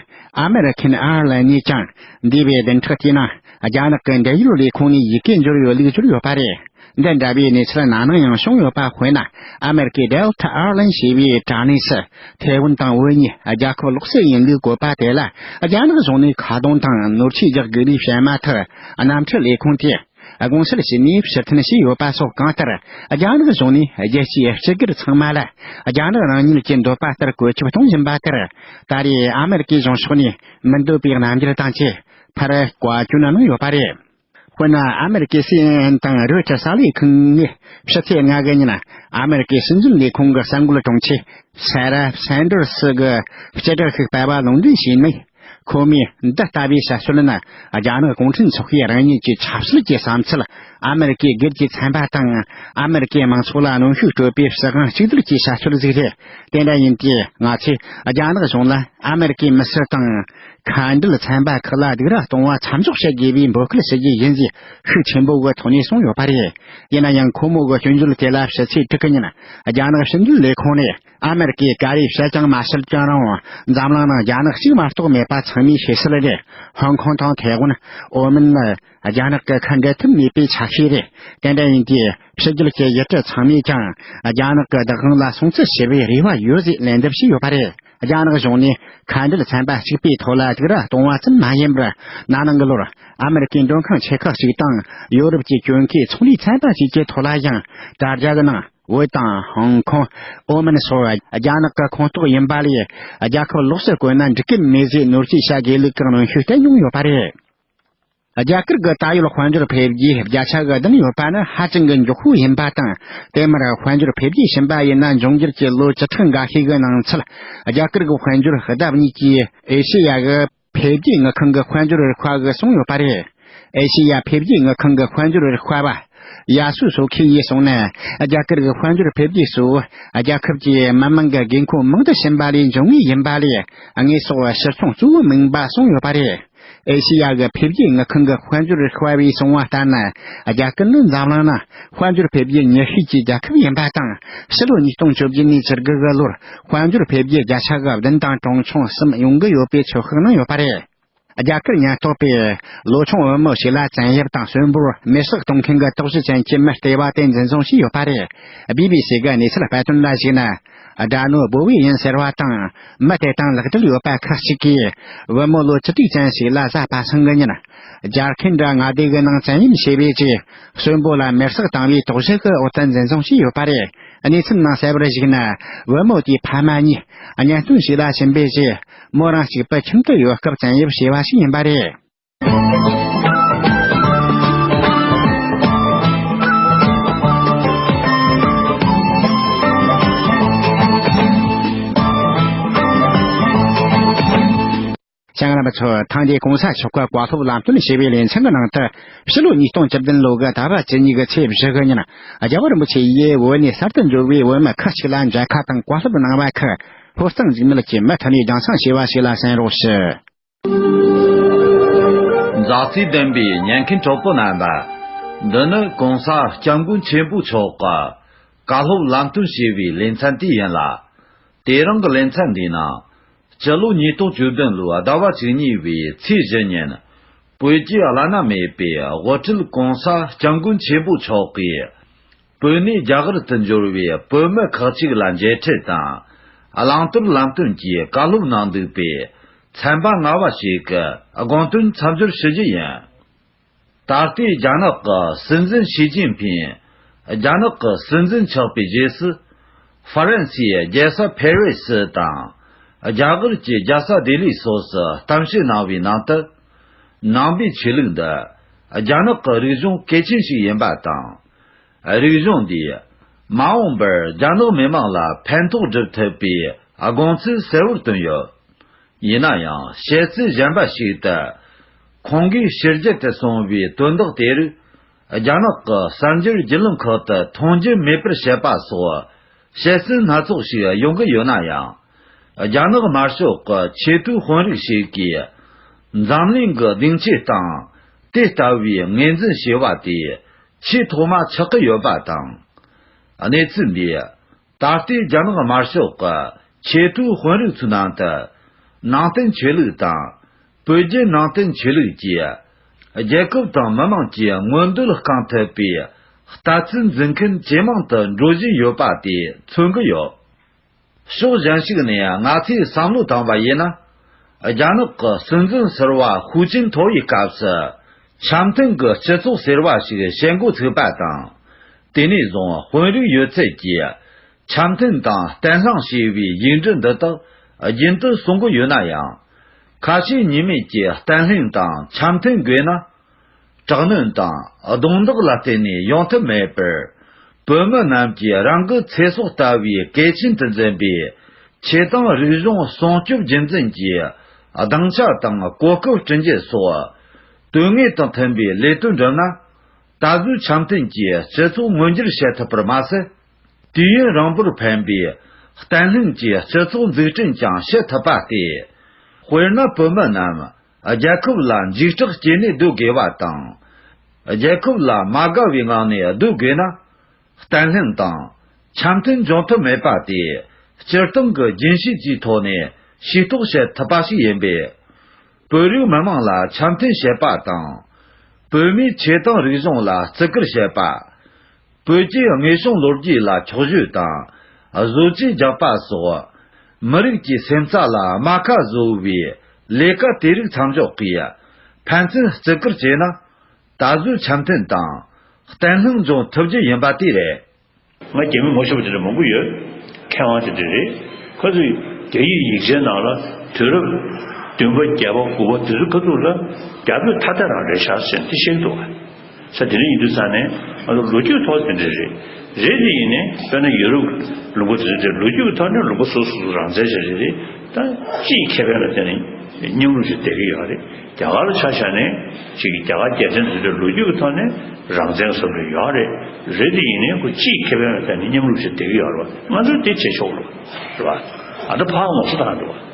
S1: American Airlines། ནས་ཀྱང་འདས་པའི་བདེན་ཁྲི་དེ་ནི་རྒྱ་ནག་གི་འབྲེལ་ཡོད་ལས་ཁུངས་ནས་ཡི་གེ་འབྱོར་ཡོད་ལུགས་བསྒྱུར་ཡོད་པ་རེད། འདི་འདྲ་བའི་གནས་ཚུལ་ནང་ནང་ཡང་བྱུང་ཡོད་པ་དཔེར་ན་ཨ་མེ་རི་ཀའི Delta Airline ཞེས་པའི་དྲ་གནས་སུ་ཐའེ་ཝན་དང་འུ་གཉིས་རྒྱལ་ཁབ་ལོག་སྲེད་ཡིན་ལུགས་བཀོད་པ་དེ་ལ་རྒྱ་ནག་གཞུང་ནས་ཁ་རྡུང་དང་ནོར་འཁྲུལ་རྒྱག་དགོས་ལུགས་བཤད་མ་ཐག་གནམ་གྲུ་ལས་ཁུངས་དེས་དགོངས་སེལ་བྱས་ནས་ཕྱིར་འཐེན་བྱས་ཡོད་པ་སོགས་གང་ལྟར་རྒྱ་ནག་གཞུང་ནས་རྒྱལ་སྤྱིའི་སྤྱི་སྒེར་ཚང་མ་ལ་རྒྱ་ནག་རང་ཉིད་ཀྱི་འདོད་པ་ལྟར་བཀོད་ཁྱབ་གཏོང་བཞིན་པ་དེར་ད་རེས་ཨ་མེ་རི་ཀའི་གཞུང་ཕྱོགས་ནས་མི་འདོད་པའི་རྣམ་འགྱུར་དང་བཅས་ཕར་བཀའ་བཀྱོན་གནང་ཡོད་པ་རེད། དཔེར་ན་ཨ་མེ་རི་ཀའི་སི་ཨེན་ཨེན་དང་རོས་ཀྱི་གསར་ལས་ཁང་གིས་ཕྱི་ཚེས་ལྔ་གི་ཉིན་ཨ་མེ་རི་ཀའི་སྲིད་འཛིན་ལས་ཁུངས་ཀྱི་གསར་འགོད་དྲུང་ཆེ་སེ་ར་སེན་ཏར་སི་གི་སྤྱི་སྒྲག་ཤིག་སྤེལ་བ་ལུང་འདྲེན་བྱས་ནས། ཁོ་མོས་འདི་ལྟ་བུའི་བཤད་སྲོལ་ནི་རྒྱ་ནག་གུང་ཁྲན་ཚོགས་པའི་རང་ཉིད་ཀྱི་ཆབ་སྲིད་ཀྱི་བསམ་ཚུལ་ཨ་མེ་རི་ཀའི་སྒེར་གྱི་ཚན་པ་དང་ཨ་མེ་རི་ཀའི་མང་ཚོགས་ལ་གནོན་ཤུགས་སྤྲོད་པའི་བྱེད་སྒང་གཅིག་སྡུད་ཀྱི་བཤད་སྲོལ་ཟིག་རེད། དེ་འདྲ་ཡིན་དུས་ང་ཚོས་རྒྱ་ནག་གཞུང་ལ་ཨ་མེ་རི་ཀའི་མི་སེར་དང། མཁའ་འགྲུལ་ཚན་པ་ཁག་ལ་སྡུག་ར་གཏོང་བ་མཚམས་འཇོག་བྱེད་དགོས་པའི་འབོད་སྐུལ་བྱེད་རྒྱུ་ཡིན་ཞེས་ཤུགས་ཆེན་པོ་གི་ཐོག་ནས་གསུངས་ཡོད་པ་རེད། ཡིན་ན་ཡང་ཁོ་མོ་གི་སྐྱོན་བརྗོད་དེ་ལ་ཕྱི་ཚེས་དྲུག་གི་ཉིན་རྒྱ་ནག་ཕྱི་འབྲེལ་ལས་ཁུངས་ནས་ཨ་མེ་རི་ཀས་ག་རེ་བཤད་ཀྱང་མ་བཤད་ཀྱང་རུང་འཛམ་གླིང་ནང་རྒྱ་ནག་གཅིག་མ་གཏོགས་མེད་པ་ཚང་མས་ཤེས་གསལ་རེད། ཧོང་ཁོང་དང་ཐའེ་ཝན། ཨོ་མིན་ནི་རྒྱ་ནག་གི་ཁ་འབྲལ་ཐུབ་མེད་པའི་ཆ་ཤས་རེད། དེ་འདྲ་ཡིན་དུས་ཕྱི་རྒྱལ་གྱི་ཡུལ་གྲུ་ཚང་མས་ཀྱང་རྒྱ་ནག་གི་བདག་དབང་ལ་སྲུང་བརྩི་བྱེད་པའི་རེ་བ་ཡོད་ཅེས་ལན་འདེབས་བྱས་ཡོད་པ་རེད། རྒྱ་ནག་གཞུང་ནས་ཁ་འབྲལ་ཚན་པ་གཅིག་པའི་ཐོག་ལ་དུག་ར་གཏོང་བ་ཙམ་མ་ཡིན་པར་ན་ནིང་གི་ལོར་ཨ་མེ་རི་ཁའི་མགྲོན་ཁང་ཆེ་ཁག་ཅིག་དང་ཡོ་རོབ་ཀྱི་གྱོད་མཁས་ཚོང་ལས་ཚན་པ་བཅས་ཀྱི་ཐོག་ལ་ཡང་དྲ་རྒྱ་གི་ནང་ཝུའུ་ཏང་ཧོང་ཀོང་ཨོ་མིན་སོགས་རྒྱ་ནག་གི་ཁོངས་གཏོགས་ཡིན་པ་ལས་རྒྱལ་ཁབ་ལོགས་སུ་བཀོད་ན་འགྲིག་གི་མེད་ཟེར་ནོར་འཁྲུལ་བྱ་དགོས་ལུགས་གང་རུང་ཤུགས་བསྟན་མྱོང་ཡོད་པ་རེད། རྒྱ་གར་གྱི་ད་ཡོད་དཔལ་འབྱོར་འཕེལ་རྒྱས་བརྒྱ་ཆ་གི་བདུན་ཡོད་པ་ནི་ཧ་ཅང་གི་མགྱོགས་པོ་ཡིན་པ་དང་དེ་མུར་དཔལ་འབྱོར་འཕེལ་རྒྱས་ཕྱིན་པ་ཡིན་ན་འབྱུང་འགྱུར་གྱི་ལོ་བཅུ་ཕྲག་འགའ་ཤས་ཀྱི་ནང་ཚུད་རྒྱ་གར་གྱི་དཔལ་འབྱོར་ལྡབ་གཉིས་ཀྱིས་ཨེ་ཤེ་ཡ་གྱི་འཕེལ་རྒྱས་དངུལ་ཁང་གི་དཔལ་འབྱོར་རིག་དཔལ་གྱིས་བཟུང་ཡོད་པ་རེད། ཨེ་ཤེ་ཡ་འཕེལ་རྒྱས་དངུལ་ཁང་གི་དཔལ་འབྱོར་རིག་དཔལ་བ་ཡ་སུ་སོ་ཁེ་ཡིས་གསུངས་ན་རྒྱ་གར་གྱི་དཔལ་འབྱོར་འཕེལ་རྒྱས་སུ་རྒྱལ་ཁབ་ཀྱིས་མི་དམངས་ཀྱི་དགོས་མཁོ་མང་དུ་ཕྱིན་པ་ལས་འབྱུང་ངེས་ཡིན་པ་ལས་དངོས་ཟོག་ཕྱིར་ཚོང་གཙོ་བོ་མིན་པ་གསུངས་ཡོད་པ་རེད། ཨེ་ཤེ་ཡ་གི་འཕེལ་རྒྱས་དངུལ་ཁང་གི་དཔལ་འབྱོར་རིག་པ་བས་གསུངས་བ་ལྟར་ན། རྒྱ་སྐད་ནི་འཛམ་གླིང་ནང་དཔལ་འབྱོར་འཕེལ་རྒྱས་ཉེར་ཤོས་ཀྱི་རྒྱལ་ཁབ་ཡིན་པ་དང། ཕྱི་ལོ་ཉིས་སྟོང་བཅོ་བརྒྱད་ནས་ཕྱིར་དགུ་གི་ལོར་དཔལ་འབྱོར་འཕེལ་རྒྱས་བརྒྱ་ཆ་གི་བདུན་དང་གྲངས་ཆུང་གསུམ་ཡོང་གི་ཡོད་པའི་ཚོད་དཔག་གནང་ཡོད་པ་རེད། རྒྱ་གར་ཉེན་རྟོག་པས་ལོ་ཆུང་བུ་མོ་ཞིག་ལ་བཙན་གཡེམ་དང་གསོན་པོར་མེ་བསྲེགས་གཏོང་མཁན་གྱི་རྟོག་ཞིབ་ཅན་གྱི་མི་ལྟེ་བ་དེ་འཛིན་བཟུང་བྱས་ཡོད་པ་རེད། སྦི་སྦི་སི་གི་གནས་ཚུལ་དཔེ་སྟོན་ལ་གཞིགས་ན། སྦྲ་ནོར་སྦོ་བས་ཡིན་ཟེར་བ་དང། མི་དེ་དང་ལག་འབྲེལ་ཡོད་པ་ཁག་ཅིག་གིས། བུ་མོ་ལོ་བཅུ་དྲུག་ཅན་ཞིག་ལ་བཟའ་པ་སྲིང་གི་ཉིན། སྦྱར་མཁན་འདྲ་མངའ་སྡེ་གི་ནང་བཙན་གཡེམ་བྱས་པའི་རྗེས། གསོན་པོ་ལ་མེར་སྲེག་བཏང་བའི་དོགས་གཞི་གི་འོག་ཏུ་འཛིན་བཟུང་བྱས་ཡོད་པ་རེད། གནས་ཚུལ་ནང་གསལ་བར་གཞིགས་ན། བུ་མོ་དེའི་ཕ་མ་གཉིས། གཉེན་སྟོན་ཞིག་ལ་ཕྱིན་པའི་རྗེས། མོ་རང་གཅིག་པུ་ཁྱིམ་དུ་ཡོད་སྐབས་བཙན་གཡེམ་བྱས་པ་ཞིག་ཡིན་པ་རེད། ལྕང་ར་པ་ཚོ་ཐང་རྒྱལ་གོང་ས་མཆོག་གི་བཀའ་སློབ་ལམ་སྟོན་ཞེས་པའི་ལས་འཆར་གྱི་ནང་དུ་ཕྱི་ལོ་ཉིས་སྟོང་བཅུ་བདུན་ལོ་དགུ་ཟླ་བ་བཅུ་གཉིས་ཀྱི་ཚེས་བཞི་གི་ཉིན་རྒྱལ་བ་རིན་པོ་ཆེ་ཡིས་བོད་ནས་གསར་དུ་འབྱོར་བའི་བོད་མི་ཁག་ཅིག་ལ་མཇལ་ཁ་དང་བཀའ་སློབ་གནང་བ་ཁག་ཧུར་གཙང་འཇིགས་མེད་ཀྱིས་མུ་མཐུད་ནས་རྒྱང་སྲང་ཞེས་པ་ཞིག་ལ་གསན་རོགས་ཞུ།
S5: མཛའ་བརྩེ་ལྡན་པའི་ཉན་མཁན་གྲོགས་པོ་རྣམ་པ། འདི་ནི་གོང་ས་སྐྱབས་མགོན་ཆེན་པོ་མཆོག་གི་བཀའ་སློབ་ལམ་སྟོན་ཞེས་པའི་ལེ་ཚན་དེ་ཡིན་ལ། དེ་རིང་གི་ལེ་ཚན་འདིའི་ནང། སྤྱི་ལོ་ཉིས་སྟོང་བཅུ་བདུན་ལོའི་ཟླ་བ་བཅུ་གཉིས་པའི་ཚེས་བཞི་ཉིན། བོད་རྒྱའི་བླ་ན་མེད་པའི་དབུ་ཁྲིད་གོང་ས་སྐྱབས་མགོན་ཆེན་པོ་མཆོག་གིས། བོད་ནས་རྒྱ་གར་དུ་འབྱོར་བའི་བོད་མི་ཁག་ཅིག་ལ་མཇལ་འཕྲད་དང། བླང་དོར་ལམ་སྟོན་གྱི་བཀའ་སློབ་གནང་འདུག་པས། ཚན་པ་སྔ་བ་ཞིག་གི་དགོངས་དོན་མཚམས་སྦྱོར་ཞུ་རྒྱུ་ཡིན། ད་ལྟའི་རྒྱ་ནག་གི་སྲིད་འཛིན་ཞི་ཅིན་ཕིན་རྒྱ་ནག་གི་སྲིད་འཛིན་ཆགས་པའི་རྗེས་སུ། ཧྥ་རན་སིའི་རྒྱལ་ས་ཕེ་རེ་སི་དང། རྒྱ་གར་གྱི་རྒྱལ་ས་ལྡི་ལི་སོགས་སུ་གཏམ་བཤད་གནང་བའི་ནང་དུ། ནང་པའི་ཆོས་ལུགས་འདི་རྒྱ་ནག་གི་རིག་གཞུང་གལ་ཆེན་ཞིག་ཡིན་པ་དང། རིག་གཞུང་འདིས་མ་འོངས་པར་རྒྱ་ནག་མི་དམངས་ལ་ཕན་ཐོགས་སྒྲུབ་ཐུབ་པའི་དགོངས་ཚུལ་གསལ་བོར་བཏོན་ཡོད། ཡིན་ན་ཡང་བཤད་ཚུལ་གཞན་པ་ཞིག་ཏུ། ཁོང་གིས་ཕྱི་རྒྱལ་དུ་སོང་བའི་དོན་དག་དེ་རིགས་རྒྱ་ནག་གི་གསར་འགྱུར་རྒྱུས་ལོན་ཁག་ཏུ་མཐོང་རྒྱུ་མེད་པར་བཤད་པ་སོགས། བཤད་སྲོལ་སྣ་ཚོགས་ཤིག་ཡོང་གི་ཡོད་ན་ཡང། རྒྱ་ནག་དམར་ཤོག་གི་ཆེས་མཐོའི་དཔོན་རིགས་ཤིག་གིས། འཛམ་གླིང་གི་སྡིངས་ཆའི་སྟེང་དེ་ལྟ་བུའི་ངོས་འཛིན་ཞེས་པ་དེ་ཆེས་ཐོག་མ་ཆགས་ཀྱི་ཡོད་པ་དང། གནས་ཚུལ་འདི་ད་ལྟའི་རྒྱ་ནག་དམར་ཤོག་གི་ཆེས་མཐོའི་དཔོན་རིགས་ཚོའི་ནང་དུ། ནང་བསྟན་ཆོས་ལུགས་དང། བོད་བརྒྱུད་ནང་བསྟན་ཆོས་ལུགས་ཀྱིས་རྒྱལ་ཁབ་དང་མི་དམངས་ཀྱི་མངོན་འདོད་བསྐང་ཐུབ་པའི་ལྟ་ཚུལ་འཛིན་མཁན་ཇེ་མང་དུ་འགྲོ་བཞིན་ཡོད་པ་དེ་མཚོན་གྱི་ཡོད། ཕྱོགས་གཞན་ཞིག་ནས་ང་ཚོས་བསམ་བློ་བཏང་བ་ཡིན་ན། རྒྱ་ནག་གི་སྲིད་འཛིན་ཟེར་བ་ཧུའུ་ཅིན་ཐའོ་ཡི་སྐབས་སུ་འཆམ་མཐུན་གྱི་སྤྱི་ཚོགས་ཟེར་བ་ཞིག་བྱེད་འགོ་ཚུགས་པ་དང། དེ་ནས་བཟུང་དཔོན་རིགས་ཡོད་ཚད་ཀྱིས་འཆམ་མཐུན་དང་བརྟན་ལྷིང་ཞེས་པའི་ཡིག་འབྲུ་འདི་དག་རྒྱུན་དུ་གསུང་གི་ཡོད་ན་ཡང། ཁ་ཞེ་གཉིས་མེད་ཀྱི་བརྟན་ལྷིང་དང་འཆམ་མཐུན་དགོས་ན། དྲག་གནོན་དང་རྡུང་རྡེག་ལ་བརྟེན་ནས་ཡོང་ཐབས་མེད་པར། བོད་མི་རྣམས་ཀྱི་རང་གི་ཚེ་སྲོག་ལྟ་བུའི་གལ་ཆེན་དུ་འཛིན་པའི་ཆེད་དང་རིག་གཞུང་སྲུང་སྐྱོབ་རྒྱུན་འཛིན་གྱི་སྡིངས་ཆ་དང་གོ་སྐབས་བསྐྲུན་རྒྱུ་སོགས་དོན་དངོས་དང་མཐུན་པའི་ལས་དོན་བསྒྲུབས་ན། ད་གཟོད་འཆམ་མཐུན་གྱི་སྤྱི་ཚོགས་མངོན་འགྱུར་བྱེད་ཐུབ་པར་མ་ཟད། དུས་ཡུན་རིང་པོར་ཕན་པའི་བརྟན་ལྷིང་གི་སྤྱི་ཚོགས་འཛུགས་སྐྲུན་ཀྱང་བྱེད་ཐུབ་པ་སྟེ། དཔེར་ན་བོད་མི་རྣམས་རྒྱལ་ཁབ་ལ་འཇིགས་སྐྲག་སྐྱེས་ནས་སྡོད་དགོས་པ་དང། རྒྱལ་ཁབ་ལ་མ་དགའ་བའི་ངང་ནས་སྡོད་དགོས་ན། བརྟན་ལྷིང་དང་འཆམ་མཐུན་འབྱུང་ཐུབ་མེད་པ་དེ་སྤྱིར་བཏང་གི་རྒྱུན་ཤེས་ཀྱི་ཐོག་ནས་ཤེས་རྟོགས་བྱེད་ཐུབ་པ་ཞིག་ཡིན་པས། བོད་རིགས་མི་དམངས་ལ་འཆམ་མཐུན་བྱེད་པ་དང། བོད་མིའི་ཆེས་ཐང་རིག་གཞུང་ལ་བརྩི་བཀུར་བྱེད་པ། བོད་ཀྱི་དངོས་བྱུང་ལོ་རྒྱུས་ལ་འཁྱོག་བཤོད་དང། བཟོ་བཅོས་རྒྱག་པ་སོགས། མི་རིགས་ཀྱི་སེམས་རྩ་ལ་རྨ་ཁ་བཟོ་བའི་ལས་ཀ་དེ་རིགས་མཚམས་འཇོག་གིས་ཕན་ཚུན་བརྩི་བཀུར་བྱས་ན། ད་གཟོད་འཆམ་མཐུན་དང། བརྟན་ལྷིང་འབྱུང་ཐུབ་རྒྱུ་ཡིན་པ་དེ་རེད། ང་རྒྱ་མི་མོ་ཤོར་བ་དེ་འདྲ་མང་པོ་ཡོད། མཁས་དབང་དེ་འདྲ་རེད། ཁ་ཚུགས་རྒྱ་ཡིག་ཡིག་ཆའི་ནང་ལ་དུས་རབས་བདུན་
S6: པ་བརྒྱད་པ་དགུ་པ་དེ་ཚོའི་ཁ་ཚུགས་ལ་རྒྱ་བོད་ཐ་དད་རང་རེད་ཤག་ཟེར་འདི་ཤེས་གི་འདུག་ག། ས་དེ་རིང་ཡིན་དུས་ས་ནས་ང་ཚོ་ལོ་རྒྱུས་ཐོག་དེ་འདྲ་རེད། རེད་དེ་ཡིན་ནས་དཔེར་ན་ཡོ་རུབ་ཀྱི་ལུང་པ་དེ་ཚོ་དེ་ལོ་རྒྱུས་ཀྱི་ཐོག་ནས་ལུང་པ་སོ་སོ་སོ་རང་བཙན་བྱ་རྒྱུ་དེ་ད་སྤྱིའི་ཁེ་ཕན་ལ་བརྟེན་ནས་མཉམ་རུབ་བྱས་བསྡད་ཀྱི་ཡོད་རེད། རྒྱ་གར་ལ་ཆ་བཞག་ནས་ཅིག་རྒྱ་གར་རྒྱལ་ཕྲན་དེ་ཚོ་ལོ་རྒྱུས་ཀྱི་ཐོག་ནས་རང་བཙན་བཟོ་དགོས་ཡོད་རེད། རེད་དེ་ཡིན་ནས་ཁོ་སྤྱིའི་ཁེ་ཕན་ལ་བརྟེན་ནས་མཉམ་རུབ་བྱས་བསྡད་ཀྱི་ཡོད་རེད་པ་ང་ཚོས་དེ་བྱེད་ཆོག་ལོ། རེད་པ། ཨ་ད་ཕག་མོ་སུ་དང་འགྲོ་བ།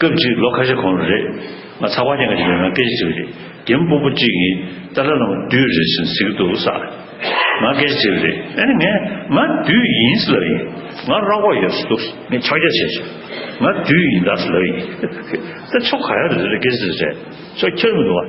S6: སྐབས་གཅིག་ལོ་ཁ་ཤས་གོང་རེད། ང་ཚ་བ་ཉེ་ག་ཅིག་ཡོད་ན་སྐད་ཆ་དྲིས་པ་རེད། རྒན་སྤུན་པོ་གཅིག་གིས་ཏཱ་ལ་ལ་མོ་བདུད་རེད་ཟེར་ཟིག་འདུག་བསགས། ང་སྐད་ཆ་དྲིས་པ་རེད། ཨེ་ནི་ངས་ང་བདུད་ཡིན་ཟེར་ལབ་ཡིན། ང་ར་བ་ཡོད་ཟེར་འདུག་ངས་ཕྱག་རྒྱ་བྱས་བྱས། ང་བདུད་ཡིན་ད་ཟེར་ལབ་ཡིན། ད་ཆོ་ག་ཡ་རེད་ཟེར་ལབ་སྐད་ཆ་དྲིས་པ་རེད། ཆོ་ཁྱེར་མི་འདུག་བ།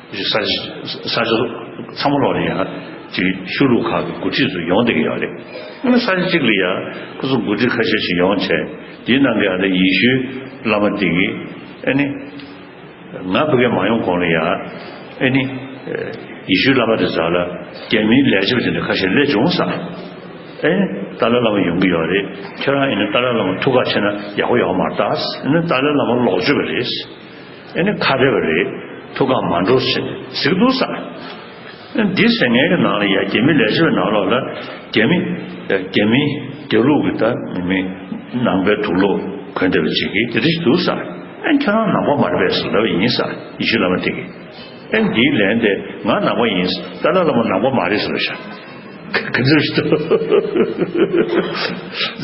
S6: རིག་གསར་གསར་བརྗེ་ཚང་མ་ལོག་ལེ་ཡང་ན་དེ་ཤུལ་ལུས་ཁག་གི་འགོ་ཁྲིད་ཚོ་ཡོང་བསྡད་ཀྱི་ཡོད་རེད་ཡང་ན་གསར་བརྗེ་གཅིག་ལ་ཡང་ཁོ་ཚོ་འགོ་ཁྲིད་ཁ་ཤས་ཤིག་ཡོང་བྱས་དེའི་ནང་གི་ཡང་ན་ཡེ་ཤུའི་བླ་མ་དེ་གི་ཨེ་ནི་ང་བོད་སྐད་མ་ཡོང་གོང་ལ་ཡང་ཨེ་ནི་ཡེ་ཤུའི་བླ་མ་དེ་ཟ་ལ་རྒྱ་མིའི་ལས་བྱེད་པ་དེ་འདྲ་ཁ་ཤས་སླེབས་བྱུང་ས་ཨེ་ནི་ཏཱ་ལའི་བླ་མ་ཡོང་གི་ཡོད་རེད་ཁྱེད་རང་ཨེ་ནི་ཏཱ་ལའི་བླ་མ་ཐུགས་ཁག་ཆེ་ན་ཡག་པོ་ཡོང་མ་ད་ཨེ་ནི་ཏཱ་ལའི་བླ་མ་ལོག་སྤྱོད་པ་རེད། ཨེ་ནི་ཁ་བྲལ་བ་རེད། ཐུགས་ཁག་མ་འགྲོ་ཟེར་ནས་གཟིགས་འདུག་ས། འདི་ཟེར་ངན་གྱི་ནང་ལ་ཡ་རྒྱལ་མི་ལས་བྱེད་པའི་ནང་ལོགས་ལ་རྒྱལ་མི། རྒྱལ་མི། རྒྱལ་ལུགས་ཀྱི་ད་མི་མི། ནང་པའི་དུག་ལོག་གོན་བསྡད་པ་ཅིག་གིས་དེ་རེད་འདུག་ས། ཨེ་ཁྱོད་རང་ནང་པ་མ་རེད་པས་ཟེར་ལབ་པ་ཡིན་ས་ཡེ་ཤུ་བླ་མ་དེ་གིས། ཨེ་འདིའི་ལན་དེ་ང་ནང་པ་ཡིན་ས་ཏཱ་ལ་བླ་མ་ནང་པ་མ་རེད་ཟེར་བ་ཤ། ག་ཚོད་ཞིག་དང།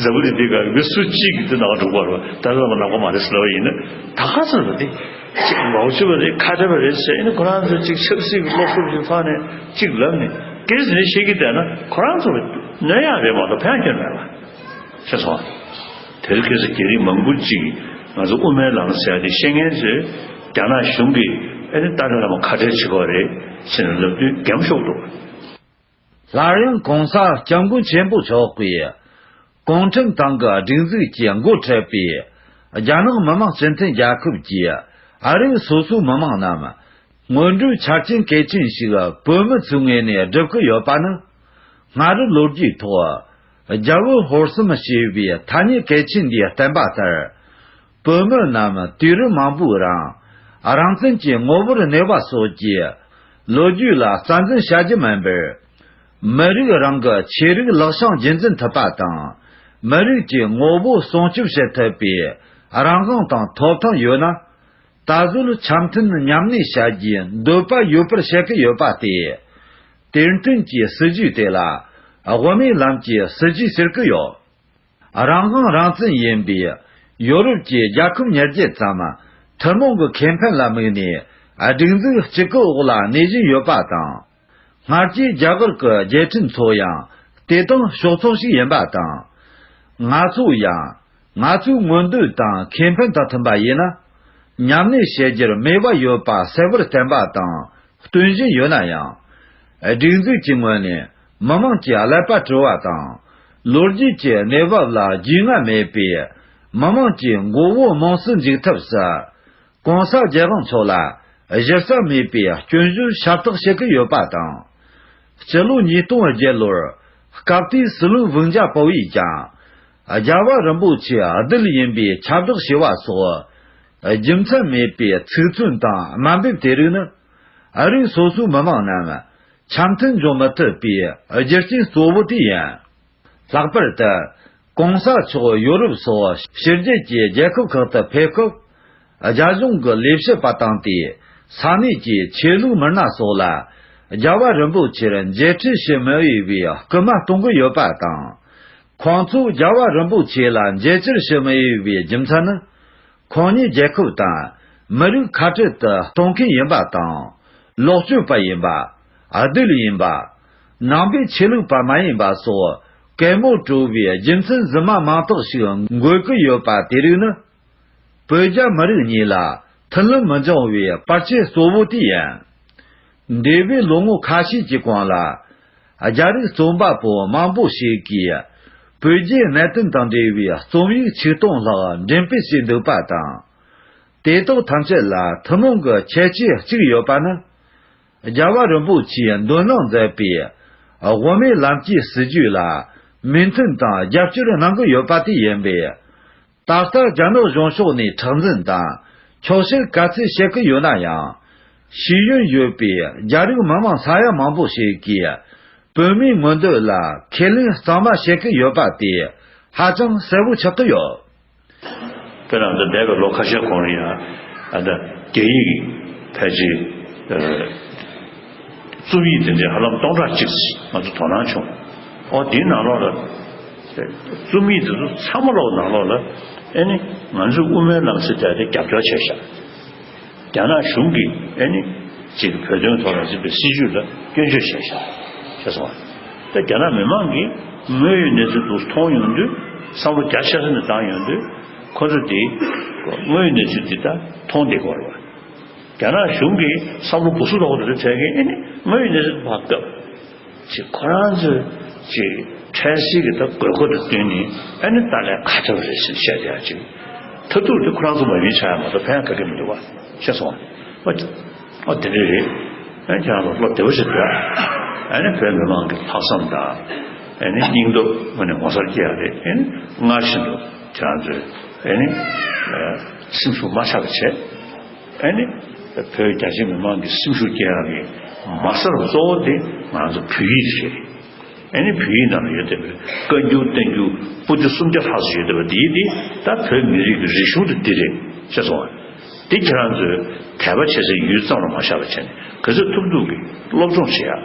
S6: གཟའ་བུ་དེ་དེ་ག་མི་སུ་གཅིག་གིས་དེ་ནང་དུ་འགྲོ་དགོས་པ་རེད། ད་ནང་པ་མ་རེད་ཟེར་བ་ཡིན་ན་ད་ག་ཚོད་ལ་དེ་གཅིག་མའོ་ཅོ་པ་རེད་ཁ་བྲལ་བ་རེད་ཟེར་ཡིན་ན་ཁོ་རང་ཚོ་གཅིག་ཆབ་སྲིད་ཀྱི་སློབ་གསོ་ཞིག་ཐོག་ནས་གཅིག་ལབ་ནས་ཀེ་རི་སི་ནས་བཤད་ཀྱི་བསྡད་ན་ཁོ་རང་ཚོ་གནོད་ཡག་རེད་མ་གཏོགས་ཕན་སྐྱོན་མེད་ལ། ཤེས་སོང་ང། དེར་ཁེ་སི་རྒྱ་རིགས་མང་པོ་གཅིག་གིས་ང་ཚོ་དབུ་མའི་ལམ་ཟེར་དེ་བཤད་མཁན་ཚོས་རྒྱ་ནག་གཞུང་གིས་ཨ་ནི་ཏཱ་ལའི་བླ་མ་ཁ་བྲལ་བྱེད་པ་རེད་ཟེར་ནས་ལབ་དུས་འགེམ་ཤོག་འདུག།
S5: སླར་ཡང་གོང་ས་སྐྱབས་མགོན་ཆེན་པོ་མཆོག་གིས་གུང་ཁྲན་ཏང་གི་སྒྲིག་འཛུགས་ཀྱི་མགོ་ཁྲིད་པའི་རྒྱ་ནག་མི་དམངས་སྤྱི་མཐུན་རྒྱལ་ཁབ་ཀྱི་ཨ་རིའི་སོ་སོའི་མི་དམངས་རྣམས་སྔོན་འགྲོའི་ཆ་རྐྱེན་གལ་ཆེན་ཞིག་བོད་མི་ཚོའི་ངོས་ནས་སྒྲུབ་ཀྱི་ཡོད་པ་ནི། སྔ་རབས་ལོ་རྒྱུས་ཐོག་རྒྱ་བོད་ཧོར་གསུམ་ཞེས་པའི་ཐ་སྙད་གལ་ཆེན་འདིའི་བསྟན་པ་ལྟར། བོད་མི་རྣམས་དུས་རིམ་མང་པོའི་རང་རང་བཙན་གྱི་ངོ་བོར་གནས་པ་སོགས་ཀྱི་ལོ་རྒྱུས་ལ་རྩ་འཛིན་བྱ་རྒྱུ་མིན་པར། མི་རིགས་རང་གི་ཆོས་རིག་ལག་བཤངས་རྒྱུན་འཛིན་ཐུབ་པ་དང། མི་རིགས་ཀྱི་ངོ་བོ་སྲུང་སྐྱོབ་བྱེད་ཐུབ་པའི་རང་དབང་དང་ཐོབ་ཐང་ཡོད་ན། ད་གཟོད་འཆམ་མཐུན་མཉམ་གནས་བྱ་རྒྱུའི་འདོད་པ་ཡོད་པར་བཤད་ཀྱི་ཡོད་པ་སྟེ། དེར་མཐུན་གྱི་སྲིད་ཇུས་དེ་ལ་དབུ་མའི་ལམ་གྱི་སྲིད་ཇུས་ཟེར་གྱི་ཡོད། རང་དབང་རང་བཙན་ཡིན་པའི་ཡོ་རོབ་ཀྱི་རྒྱལ་ཁབ་ཉེར་བརྒྱད་ཙམ། ཐུན་མོང་གི་ཁེ་ཕན་ལ་དམིགས་ནས་སྒྲིག་འཛུགས་གཅིག་གི་འོག་ལ་གནས་བཞིན་ཡོད་པ་དང། སྔར་གྱི་རྒྱ་གར་གྱི་རྒྱལ་ཁྲིམས་ཚོ་ཡང་དེ་དང་ཕྱོགས་མཚུངས་ཤིག་ཡིན་པ་དང། ང་ཚོ་ཡང་ང་ཚོའི་མངོན་འདོད་དང་ཁེ་ཕན་དང་མཐུན་པ་ཡིན་ན། ཉམས་ལེན་བྱེད་རྒྱུར་དམིགས་པ་ཡོད་པ་གསལ་བོར་བསྟན་པ་དང་སྟོན་བཞིན་ཡོད་ན་ཡང། སྒྲིག་འཛུགས་ཀྱི་ངོས་ནས་མི་མང་གི་ཀླད་པ་བཀྲུ་བ་དང། ལོ་རྒྱུས་ཀྱི་གནས་བབ་ལ་རྒྱུས་མངའ་མེད་པའི་མི་དམངས་ཀྱི་མགོ་བོ་དམངས་སུ་འཇུག་ཐབས་སུ། གོང་གསལ་རྒྱལ་དབང་ཚོ་ལ་གཞི་རྩ་མེད་པའི་སྐྱོན་བརྗོད་ཤ་སྟག་བྱེད་ཀྱི་ཡོད་པ་དང། སྤྱི་ལོ་ཉིས་སྟོང་བརྒྱད་ལོར་སྐབས་དེའི་སྲིད་བློན་བྷུན་ཇཱ་པོ་ཡིས་ཀྱང། རྒྱལ་བ་རིན་པོ་ཆེ་རྡུལ་ཡིན་པའི་ཁྱབ་བསྒྲགས་བྱས་པ་སོགས་རྒྱུ་མཚན་མེད་པའི་ཚིག་མཚོན་དང་དམའ་འབེབས་དེ་རིགས་ནི། ཨ་རིའི་སོ་སོའི་མི་དམངས་རྣམས་འཆམ་མཐུན་འབྱུང་མི་ཐུབ་པའི་རྒྱུ་རྐྱེན་གཙོ་བོ་དེ་ཡིན། ལྷག་པར་དུ། གོང་ས་མཆོག་ཡོ་རུབ་སོགས་ཕྱི་རྒྱལ་གྱི་རྒྱལ་ཁབ་ཁག་ཏུ་ཕེབས་སྐབས། རྒྱ་གཞུང་གི་ལས་བྱེད་པ་བཏང་སྟེ་ས་གནས་ཀྱི་ཆོས་ལུགས་མི་སྣ་སོགས་ལ་རྒྱལ་བ་རིན་པོ་ཆེར་མཇལ་འཕྲད་བྱེད་མི་འོས་པའི་སྐུལ་མ་གཏོང་གི་ཡོད་པ་དང། ཁོང་ཚོས་རྒྱལ་བ་རིན་པོ་ཆེ་ལ་མཇལ་བཅར་བྱེད་མི་འོས་པའི་རྒྱུ་མཚན་ནི། ཁོང་ཉིད་རྒྱལ་ཁབ་དང་མི་རིགས་ཁ་བྲལ་དུ་གཏོང་མཁན་ཡིན་པ་དང། ལོག་སྤྱོད་པ་ཡིན་པ། རྡུལ་ཡིན་པ། ནང་པའི་ཆོས་ལུགས་པ་མ་ཡིན་པ་སོགས་གད་མོ་བཀྲུ་བའི་རྒྱུ་མཚན་རྫུན་མ་མང་དག་ཞིག་འགོད་ཀྱི་ཡོད་པ་དེ་རིགས་ནི། བོད་རྒྱ་མི་རིགས་གཉིས་ལ་མཐུན་ལམ་མི་འབྱུང་བའི་པར་ཆས་གཙོ་བོ་དེ་ཡིན། འདས་པའི་ལོ་ངོ་ཁ་ཤས་ཀྱི་གོང་ལ། རྒྱ་རིགས་རྩོམ་པ་པོ་མང་པོ་ཞིག་གིས་བོད་རྒྱའི་གནད་དོན་དང་འབྲེལ་བའི་རྩོམ་ཡིག་ཆིག་སྟོང་ལྷག་འགྲེམས་སྤེལ་བྱས་འདུག་པ་དང། དེ་དག་ཐམས་ཅད་ལ་ཐུན་མོང་གི་ཁྱད་ཆོས་གཅིག་ཡོད་པ་ནི། རྒྱལ་བ་རིན་པོ་ཆེས་འདོན་གནང་མཛད་པའི་དབུ་མའི་ལམ་གྱི་སྲིད་བྱུས་ལ་མོས་མཐུན་དང་རྒྱབ་སྐྱོར་གནང་གི་ཡོད་པ་དེ་ཡིན་པས། ད་ལྟ་རྒྱ་ནག་གཞུང་ཕྱོགས་ནས་ཁྲག་འཛིན་དང། ཆོག་ཤེས་ག་ཚོད་བྱེད་ཀྱི་ཡོད་ན་ཡང། ཤེས་ཡོན་ཡོད་པའི་རྒྱ་རིགས་མི་མང་ས་ཡ་མང་པོ་ཞིག་གིས་བོད་མིའི་མངོན་འདོད་ལ་ཁས་ལེན་གཙང་མ་བྱེད་ཀྱི་ཡོད་པ་དེ་ཧ་ཅང་གསལ་བོ་ཆགས་ཀྱི་ཡོད། བོད་ནང་དུ་འདས་པའི་ལོ་ཁ་ཤས་གོང་རིང་ཡང་རྒྱ་ཡིག་གི་ཕལ་ཆེར་རྩོམ་ཡིག་དེ་འདྲའི་ཧ་ལམ་སྟོང་ཕྲག་གཅིག་ང་ཚོ་དོ་སྣང་བྱུང། འོ་དེའི་ནང་ལོགས་ལ། རྩོམ་ཡིག་འདི་ཚོ་ཚང་མ་ཀློག་ནང་ལོགས་ལ་ཨེ་ནི་ང་ཚོས་དབུ་མའི་ལམ་ཟེར་བསྡད་དེ་རྒྱབ་སྐྱོར་བྱས་ཤག་རྒྱ་ནག་གཞུང་གི་ཨེ་ནི་ཅིག་བོད་དོན་ཐོག་ལ་འཛིན་པའི་སྲིད་ཇུས་ལ་སྐྱོན་བརྗོད་བྱས་ཤག་ཤེས་སོང་ང་ད་རྒྱ་ནག་མི་མང་གིས་དངོས་ཡོད་གནས་ཚུལ་དུག་མཐོང་ཡོང་དུས་བསམ་བློ་རྒྱ་ཆེ་ས་ནས་བཏང་ཡོང་དུས་ཁོ་ཚོ་དེ་
S6: དངོས་ཡོད་གནས་ཚུལ་འདི་དག་མཐོང་བདེ་གོ་རེ་བ་རྒྱ་ནག་གཞུང་གིས་བསམ་བློ་སྦུ་སུ་ལོག་དེ་འདྲ་བྱས་ཀི་ཨེ་ནི་དངོས་ཡོད་གནས་ཚུལ་དུ་བབས་སྐབས། ཅེས་ཁོ་རང་ཚོའི་ཀྱི་ཕྲན་སེ་གི་ད་དགོས་མཁོ་དེ་བསྟུན་ནས་ཨ་ནི་ཏཱ་ལའི་ཁ་ཐོར་རེད་ཟེར་བཤད་བསྡད་ཡ་ཅིག། མཐར་ཐུག་དེ་ཁོ་རང་ཚོ་མ་ཡིན་ཆགས་ཡ་མ་གཏོགས་ཕན་ཡ་ག་གི་མི་འདུག་བ་ཤེས་སོང་བ། ཨོ་དེ་འདྲ་རེད། ཨན་ཁྱེད་རང་ཚོ་བློ་བདེ་བོ་ཞིག་སྡོད། ཨ་ནི་བོད་མི་མང་གི་ལྷག་བསམ་དང། ཨ་ནི་སྙིང་སྟོབས་དངོས་ནས་ངོ་སར་སྐྱེ་ཡ་རེད་ཨན། སྔར་བཞིན་དུ་ཁྱེད་རང་ཚོའི་ཨ་ནི་སེམས་ཤུགས་མ་ཆགས་པ་བྱེད། ཨ་ནི། བོད་རྒྱ་ཆེ་མི་མང་གི་སེམས་ཤུགས་བསྐྱེད་རག་གི་མ་གསར་བ་གཙོ་བོ་དེ་ང་ཚོ་བོད་ཡིག་དེ་རེད། ཨ་ནི་བོད་ཡིག་ནང་ལ་ཡོད་བསྡད་པའི་བཀའ་འགྱུར་བསྟན་འགྱུར་སྤུ་རྒྱུ་སུམ་བརྒྱ་ལྷག་ཅིག་ཡོད་བསྡད་པ་དེ་དེ་ད་བོད་མི་རིགས་ཀྱི་རིག་གཞུང་དེ་འདི་རེད་ཤེས་སོང་ང། དེ་ཁྱེད་རང་ཚོས་དད་པ་བྱེད་སའི་ཡུལ་ཙམ་ལ་མ་བཞག་པ་བྱས་ནས་ག་ཚོད་ཐུབ་ཐུབ་ཀྱིས་སློབ་སྦྱོང་བྱེད་ཡག།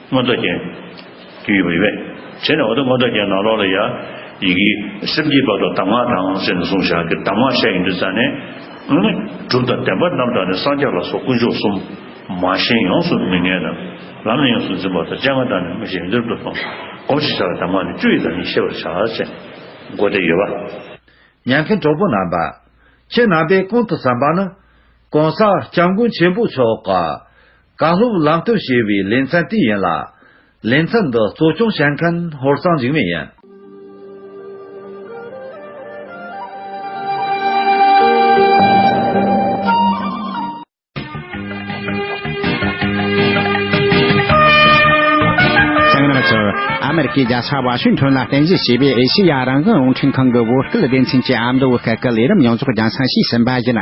S5: མངོན་རྟོགས་ཅན། དུས་ཡོད་པར་ཡོད། བྱས་ནས་འོ་དོད་མངོན་རྟོགས་ཅན་ནང་ལོགས་ལ་ཡང། ཡི་གེ། སེམས་ཀྱི་བར་དུ་གདམས་ངག་དང་བཅས་ནས་གཟུང་བྱ། གདམས་ངག་བཤད་ཡོན་ཏུ་བསྩལ་ནས། གྲུབ་དང་བདེན་པ་རྣམ་དག་ནི་སངས་རྒྱས་ལ་སོགས་དཀོན་མཆོག་གསུམ། མ་ཞེན་ཡོངས་སུ་མི་ངེས་རྣམས། ལམ་ནས་ཡོངས་སུ་འཛིན་པ་དང་སྤྱན་སྔར་བཏང་ནས་མ་ཞེན་ཡོན་ཏན་རབ་ཏུ་སྤངས། སྒོམ་ཞེས་བྱ་བའི་གདམས་ངག་ནི་བཅུ་ཡི་དང་ནི་ཤེས་པར་བྱ། སྒོ་བདེ་ཡོད་པ། ཉན་མཁན་གྲོགས་པོ་རྣམ་པ། ཁྱེད་རྣམ་པས་ཀུན་དུ་བསམ་པ་ནི། གང་ཟག་སྐྱབས་མགོན་ཆེན་པོ་མཆོག། གང་སློབ་ལམ་སྟོན་བྱེད་པའི་ལེ་ཚན་དེ་ཡིན་ལ། ལེ་ཚན་འདི་གཙོ་སྐྱོང་བྱེད་མཁན་ཧོར་གཙང་འཇིགས་མེད་ཡིན།
S1: ཚང་མར་གསོལ། ཨ་མེ་རི་ཁའི་རྒྱལ་ས་ཝ་ཤིང་ཐོན་ལ་རྟེན་གཞི་བྱས་པའི་ཨེ་ཤེ་ཡ་རང་བཙན་རླུང་འཕྲིན་ཁང་གི་དབུ་སྐུལ་སྡེ་ཚན་གྱི་ཨ་མདོ་བོད་སྐད་ཀྱི་ལས་རིམ་ཡོངས་རྫོགས་རྒྱང་སྲང་ཞིག་ཟིན་པ་ཡིན།